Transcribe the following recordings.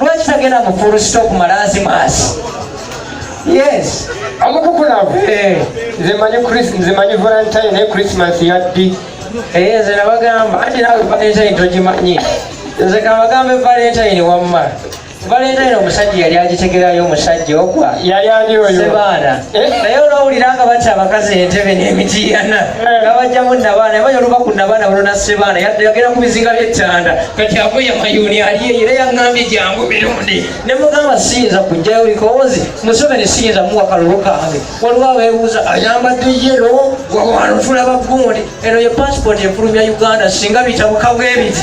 lwaki tagenda mu full stop malazimaasi yes amukukulavo eh. nze manyi nze manyi valentine naye christmas yaddi eh, nze nabagamba anti nawe valentine togimanyi nze kabagambe valentine wamma valentine omusajja yali agitegerayo omusajja ogwa yali ali oyo sebaana naye olwawulira nga batya abakazi entebe n'emitiana nabajjamu nabaana yamanya oluba ku nabaana buno nasebaana yagenda ku bizinga byettanda kati avuye mayuni aliye era yaŋambye jangu mirundi ne mugamba siyinza kujjayo bikoozi museveni siyinza muwa kalulu kange waliwo abeebuuza ayambadde yero wawano tulaba gundi eno ye pasipooti efulumya uganda singa bitabuka bwebiti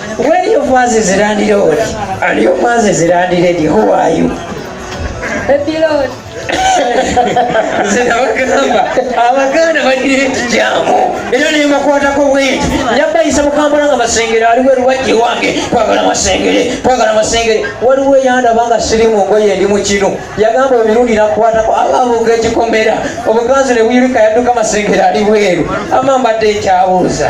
Where your was is landlord? And your was is landlady. Who are you? Baby Lord. zinabagamba abaganda balina ekijamu era nebakwatako bwenti yabayisa mukambula nga masengere aliwo eruwajji wange kwagala masengere kwagala masengere waliwo eyandaba nga siri mu ngoye endi mu kino yagamba emirundi nakwatako ababuuka ekikomera obuganzi ne buyirika yadduka masengere ali bweru ama mbadde ekyabuuza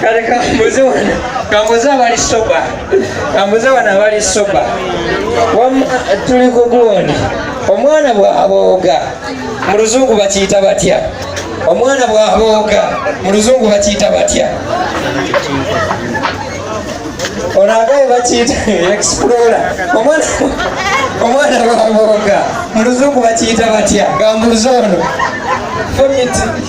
kale kambuze wano kambuze abali soba kambuze wano abali soba wamma tuli ku gundi omwana bw'abooga mu luzungu bakiyita batya omwana bw'abooga mu luzungu bakiyita batya ono agaye bakiyita explora omwana omwana bw'abooga mu luzungu bakiyita batya gambuze ono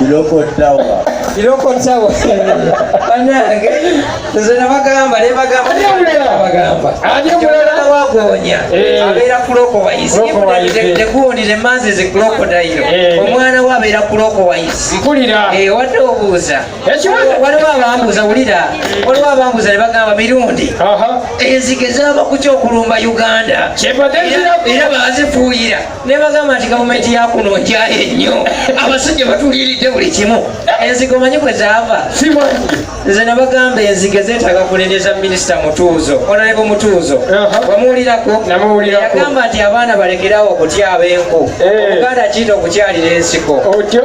Biloko Tower. Biloko Tower. Banange nze nabagamba ne bagamba ne bagamba. Ate mulala wagonya. Eh. Abeera kuloko wayisi. Ne gundi ne manzi ze kuloko dayiro. Eh. Omwana wa abeera kuloko wayisi. Mpulira. Eh wadde obuuza. Waliwo abambuza wulira. Waliwo abambuza ne bagamba mirundi. Aha. Enzige zaba ku kyokulumba Uganda. Kyebadde zira. Era bazifuuyira. nebagamba nti gavumenti yakuno nkyaye nnyo abasajja batuliiridde buli kimu enzigo manyi kwe zaava nze nabagamba enzigo zetaaga kunenyeza minisita mutuuzo onalebo mutuuzo wamuwulirako yagamba nti abaana balekerawo okutyaba enku eh. omuganda kiyita okukyalira ensiko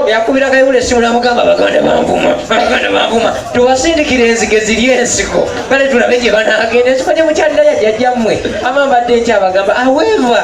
yakubira kayula esimu namugamba baganda banvuma baganda banvuma tubasindikira enzigo eziri ensiko kale tulabe gye banagenda ensiko gyemukyalira yajjajjammwe amambadde nkyabagamba aweva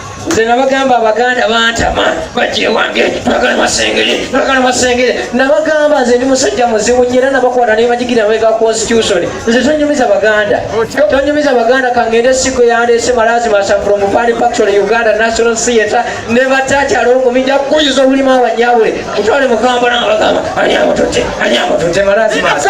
nze nabagamba abaganda bantama bajja ewange twagala masengere twagala masengere nabagamba nze ndi musajja muzibu nyera nabakwata nebajigira mabega constitution nze tonyumiza baganda tonyumiza baganda kangende sigo yandese malazi masa from fani factory uganda national theatre nebatakyala olugumija kuyiza obulimu abanyabwe mutwale mukamba nabagamba anyamutute anyamutute malazi masa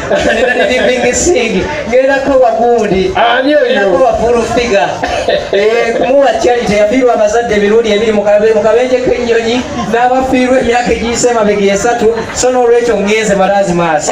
kumuwa kyali teyafiirwa abazadde emirundi ebiri mu kabenje k'ennyonyi n'abafiirwa emyaka egiyise emabega esatu so n'olwekyo ngenze malaazi maaso